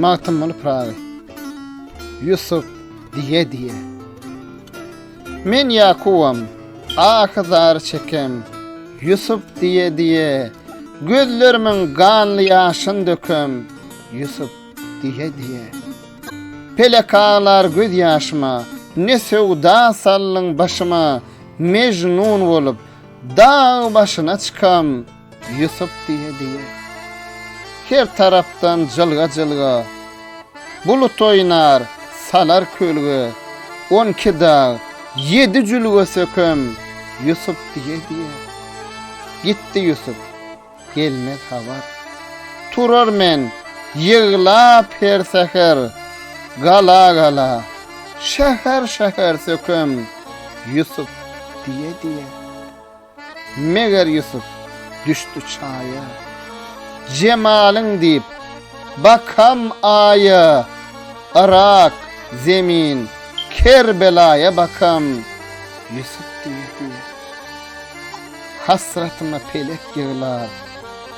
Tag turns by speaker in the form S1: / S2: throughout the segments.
S1: Magtymguly Pyragy Ýusup diýe-diýe Men Ýakubam, ahy zar çekem, Ýusup diýe-diýe, Gözlerimiň ganly ýaşyn dökem, Ýusup diýe-diýe. Pelek aglar göz ýaşyma, Ne söwda saldyň başyma, Mejnun bolup, dag başyna çykam, Ýusup diýe-diýe, her tarapdan jylga-jylga bulut oýnar, salar kölge, on iki dag, ýedi jülge sökem, Ýusup diýe-diýe, gitdi Ýusup, gelmez habar. Turar men, ýyglap her säher, gala-gala, şäher-şäher sökem, Ýusup diýe-diýe. Meger Ýusup düşdi çaýa. Jemalyň diýip, bakam Aýa, Yrak, Zemin, Kerbelaýa bakam, Ýusup diýdi. Hasratyma pelek ýyglar,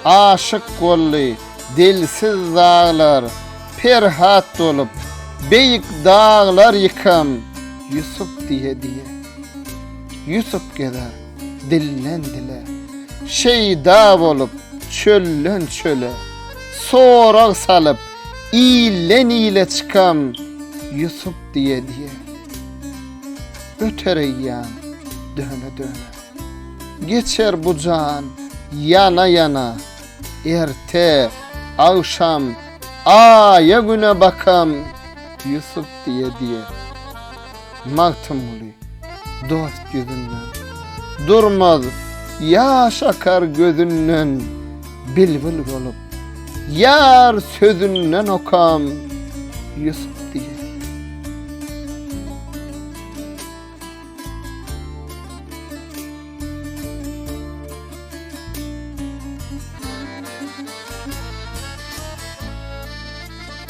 S1: Aşyk golly dilsiz zaglar, Perhat dolup, beýik daglar ýykam, Ýusup diýe-diýe. Ýusup gezer dilden dile, Şeýda bolup çölden çöle, Sorag salyp ilden ile Çykam Ýusup diýe diýe. Öter eýýam döne döne, Geçer bu jan ýana ýana, Erte, agşam, aýa güne Bakam Ýusup diýe diýe. Magtymguly dost ýüzünden, Durmaz ýaş akar gözünden, Bilbil bolup, ýar sözünden Okam Ýusup diýen.